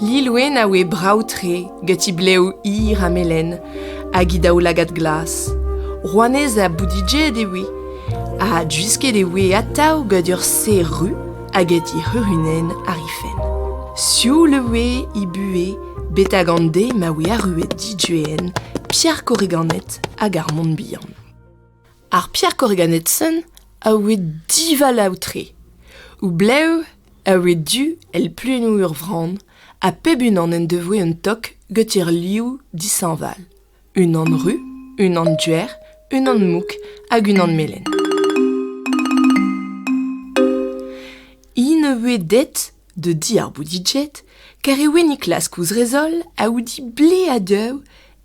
Lilwenn a oe brav-tre gant he blev hir ha melen hag he daoulagad glas. Rouanez ha boudidjet e oe, ha gwisket e oe atav gant ur serr ru hag he c'hurunenn àr he fenn. Sioul e oe he buhez betek an deiz ma oe arruet Didjuenn, Pierre Korriganet hag ar Mont-Bihan. Ar Pierre Corriganetsen a oe divalav-tre. O blev a oe du èl pluennoù ur vran, ha pep unan en devoe un tok goutir liv dishañval. Unan ru, unan duer, unan mouk hag unan melen. Hi ne voe det da di ar Boudijet, kar e oe Niklaus kouzrezol a oudi ble ha deuv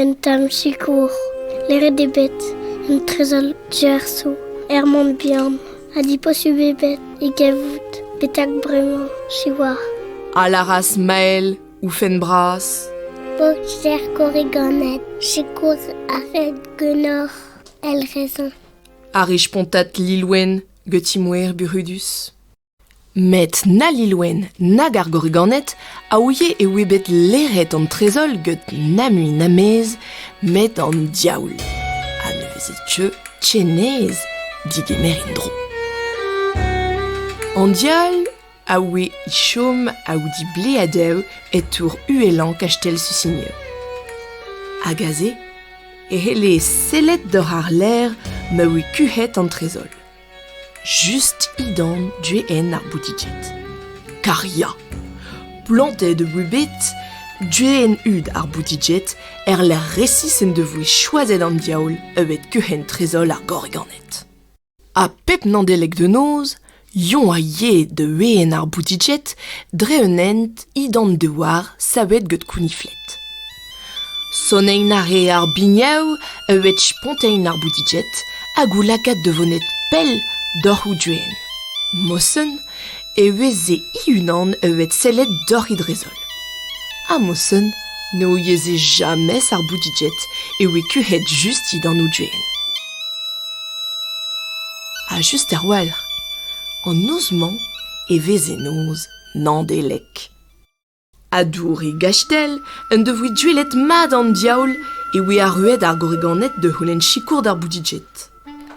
Un tamm sikour, leret eo bet un trezor diaeso er Mont-Bihan ha diposubl eo bet e gavout betek bremañ, siwazh. A lâras Mael, oufenn bras. Boxer korriganed, sikour a ret ganeoc'h, el raison. A ri spontat Lilwenn, gant ti moer burudus. Met na Lilwenn nag ar gorriganed a ouie e oe bet leret an trezol gant na mui na mez met an diaoul. Ha ne veze teu tchenez digemer en-dro. An diaoul a oe e chom aoudi ble a dev e tour uhelañ kastell Susigne. Hag aze e c'helle sellet doc'h ar ler ma oe kuc'het an trezol. Just he dorn du-hen ar boutiked. Kar ya, plantet eo bet du-hen-hud ar boutiked er-lec'h resis en devoe choazet an diaoul evet kuc'henn trezol ar gorriganed. Ha pep Nandeleg de noz, Yon a yee da ween ar boutiked dre un hent he d'an douar savet get kounifled. Sonenn a rea ar biniou e wech spontein ar boutiged hag o lakaat da vonet pell doc'h o doenn. Mosen e veze he-unan evet sellet doc'h he drez-holl. Ha Mosen ne ouieze jamez ar boutiged e oe kuc'het just dindan o doenn. Ha just er-walc'h, an noz-mañ e veze noz Nandelek. ha douri gastell en devoe duellet mat an diaoul e oe arruet ar gwriganed da c'houlenn sikour d'ar boudiged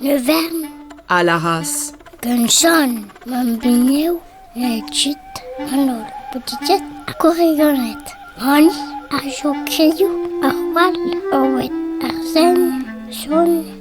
Le Vern a lâras Gant John, mam bugnev, e kuit an holl boudiged ar gwriganed. Ron, ar jokerioù, ar gwall, Owen, ar sen, John,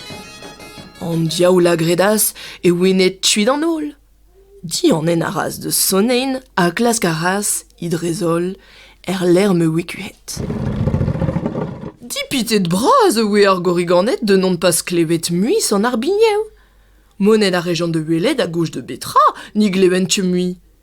An diaoul a gredas e ouenne tuit an holl. Dianen a ras da sonein ha klask a ras, he drez-holl, er lec'h ma oe kuit. Dipitet bras e oe ar gorriganed da n'hon pas klevet mui sant ar biniou. Monet a rejont da welet a gouch da betra ni glevent mui.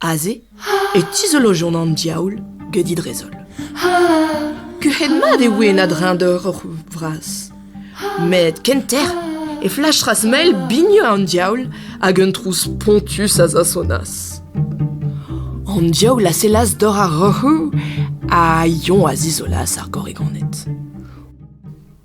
Aze e tizolojont an diaoul get he drezol. Kuc'het-mat e oe en a-dreñv-dor hor c'houzoug vras. Met kenter e flachas mel bigneux an diaoul hag un trouz spontus a zasonas. An diaoul a sellas dor ar roc'hoù ha Yon a zizolas ar gorrigoned.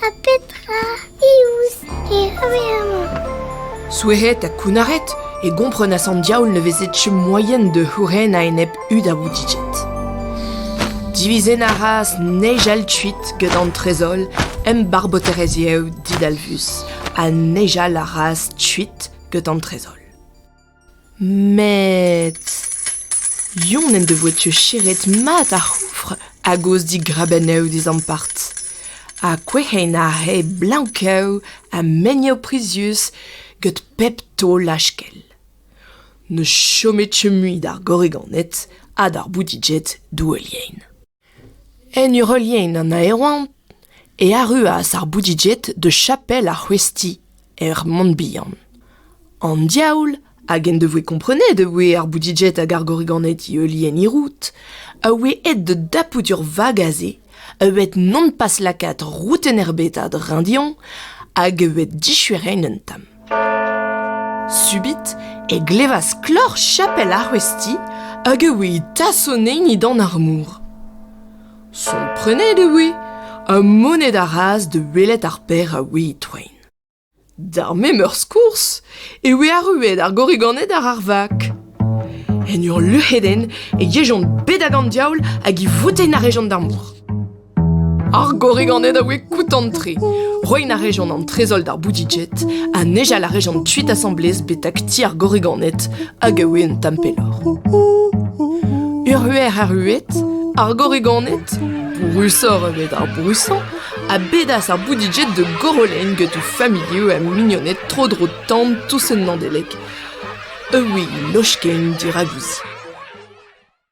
Ha petra iouz e reve amañ? Souezet ha kounnaret, e gomprenas an diaoul ne veze tcheu moaien da c'houren a-enep hudaoudijet. Divizen a ras nijal kuit gant an trezol embarboterez yev didalvus ha nijal a ras kuit gant an trezol. Met... Yon en devoe teucheret mat ar c'houfr a-gozh digrabennoù d'e zampart. Ha kouez'hen aze blank-kav ha meniv prizius gant pep taol lachkell. Ne chome teu mui d'ar gorriganed ha d'ar boudiged douelien. En ur heuliaén an aeroañv e arruas ar Boudijet da chapel ar c'hwezhti er Mont-Bihan. An diaoul hag en devoe komprenet e voe ar Boudijet hag ar Gorriganed e heuliaén Hirout a oe aet da dapout ur vag aze a oe bet non pas lakaet roudenn erbet a-dreñv dezhoñ hag a oe dichueret un tamm. Subit e glevas kloc'h chapel ar Resti hag e voe tasoneinidan ar mor. Komprenet e voe ha moned a raas da welet ar paer a oe e-toain. D'ar memeurs kours e voe arruet ar gorriganed àr ar vak. En ur luc'hedenn e yejont bet ag an diaoul hag e votent a rejont d'ar mor. Ar gorrig an eo da oe koutant-tre. Roin a rejont an trezoll d'ar Boudijet ha nejal a rejont tuit asamblez betak ti ar gorriganed hag a oe un tamm pelloc'h. Ur huer arruet, ar gorriganed, brousoc'h evit ar brousañ, a bedas ar Boudijet de Gorolein get o familhoù ha mignoned tro-dro tan tous un Nandeleg. E oui, lochken diravuzi.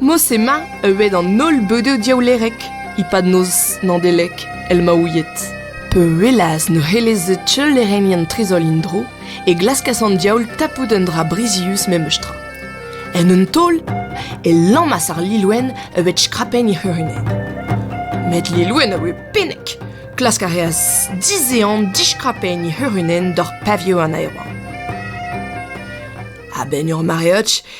Mos emañ euet an holl beudoù diaoulerek e-pad noz Nadelek el maouied. Peulaz ne c'helleze teulerennien trezol en-dro e glaskas an diaoul tapout un dra brizius memes tra. En un taol e lammas ar Lilwenn evet skrapenn he c'hurunenn. Met Lilwenn a oe pennek. Klask a reas dizehan diskrapenn he c'hurunenn doc'h pavioù an aeroa. A-benn ur mareoch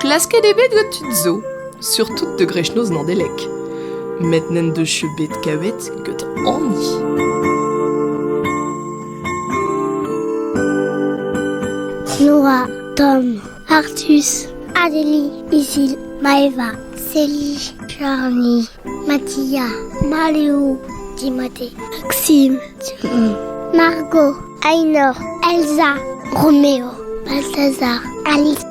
Klasket eo bet gant tud zo, surtout de greschnoz Landelec, met n'en deus bet kavet get hani. Nora, Tom, Artus, Adélie, Isil, Maeva, Célie, Charlie, Mathia, Maléo, Timothée, Maxime, Margot, Ainor, Elsa, Roméo, Balthazar, Alice.